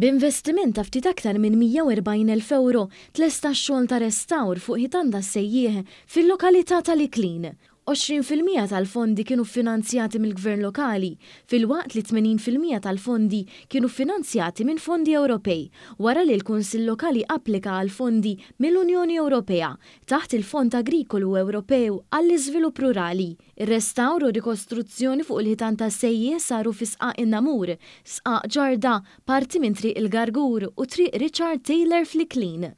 B'investiment ta' ftit aktar minn 140,000 ewro tlesta x-xogħol ta' restawr fuq ħitan tas-Sejjieħ fil-lokalità tal-Iklin. Għoxrin fil-mija tal-fondi kienu ffinanzjati mill-Gvern Lokali filwaqt li tmenin fil-mija tal-fondi kienu ffinanzjati minn fondi Ewropej wara li l-Kunsill Lokali applika għal fondi mill-Unjoni Ewropea taħt il-Fond Agrikolu Ewropew għall-Iżvilupp Rurali. Ir-restawr u r-rikostruzzjoni fuq il-ħitan tas-sejjieħ saru fi Sqaq in-Namur, Sqaq Ġarda, parti minn Triq il-Gargur u Triq Richard Taylor fl-Iklin.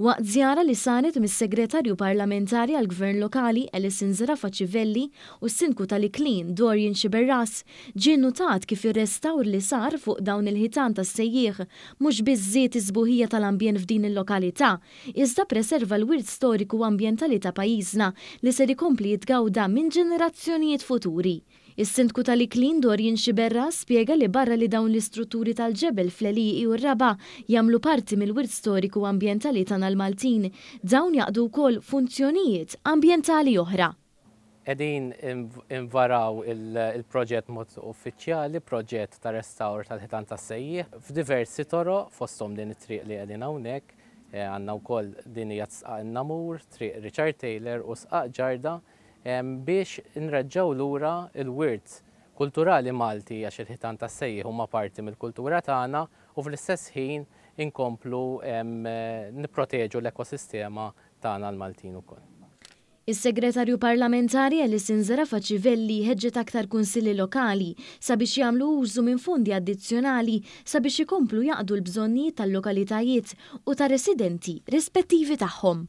Waqt żjara li saret mis-Segretarju Parlamentari għall-Gvern Lokali Alison Zerafa Civelli u s-Sindku tal-Iklin Dorian Sciberras, ġie nnutat kif ir-restawr li sar fuq dawn il-ħitan tas-sejjieħ mhux biss żied is-sbuħija tal-ambjent f'din il-lokalità iżda ppreserva l-wirt storiku u ambjentali ta' pajjiżna li ser ikompli jitgawda minn ġenerazzjonijiet futuri. Is-Sindku tal-Iklin Dorian Sciberras spjega li barra li dawn l-istrutturi tal-ġebel fl-għelieqi u r-raba' jagħmlu parti mill-wirt storiku u ambjentali tagħna l-Maltin, dawn jaqdu wkoll funzjonijiet ambjentali oħra. Qegħdin invaraw il-proġett b'mod uffiċjali, proġett ta' restawr tal-Ħitan tas-Sejjieħ, f'diversi toroq, fosthom din it-triq li qegħdin hawnhekk, għandna wkoll din hija t-Sqaq in-Namur, Triq Richard Taylor u Sqaq Ġarda, biex nreġġgħu lura l-wirt kulturali Malti għax il-Ħitan tas-Sejjieħ huma parti mill-kultura tagħna u fl-istess ħin inkomplu nipproteġu l-ekosistema tagħna l-Maltin ukoll. Is-Segretarju Parlamentari Alison Zerafa Civelli ħeġġet aktar Kunsilli Lokali sabiex jagħmlu użu minn fondi addizzjonali sabiex ikomplu jaqdu l-bżonnijiet tal-lokalitajiet u tar-residenti rispettivi tagħhom.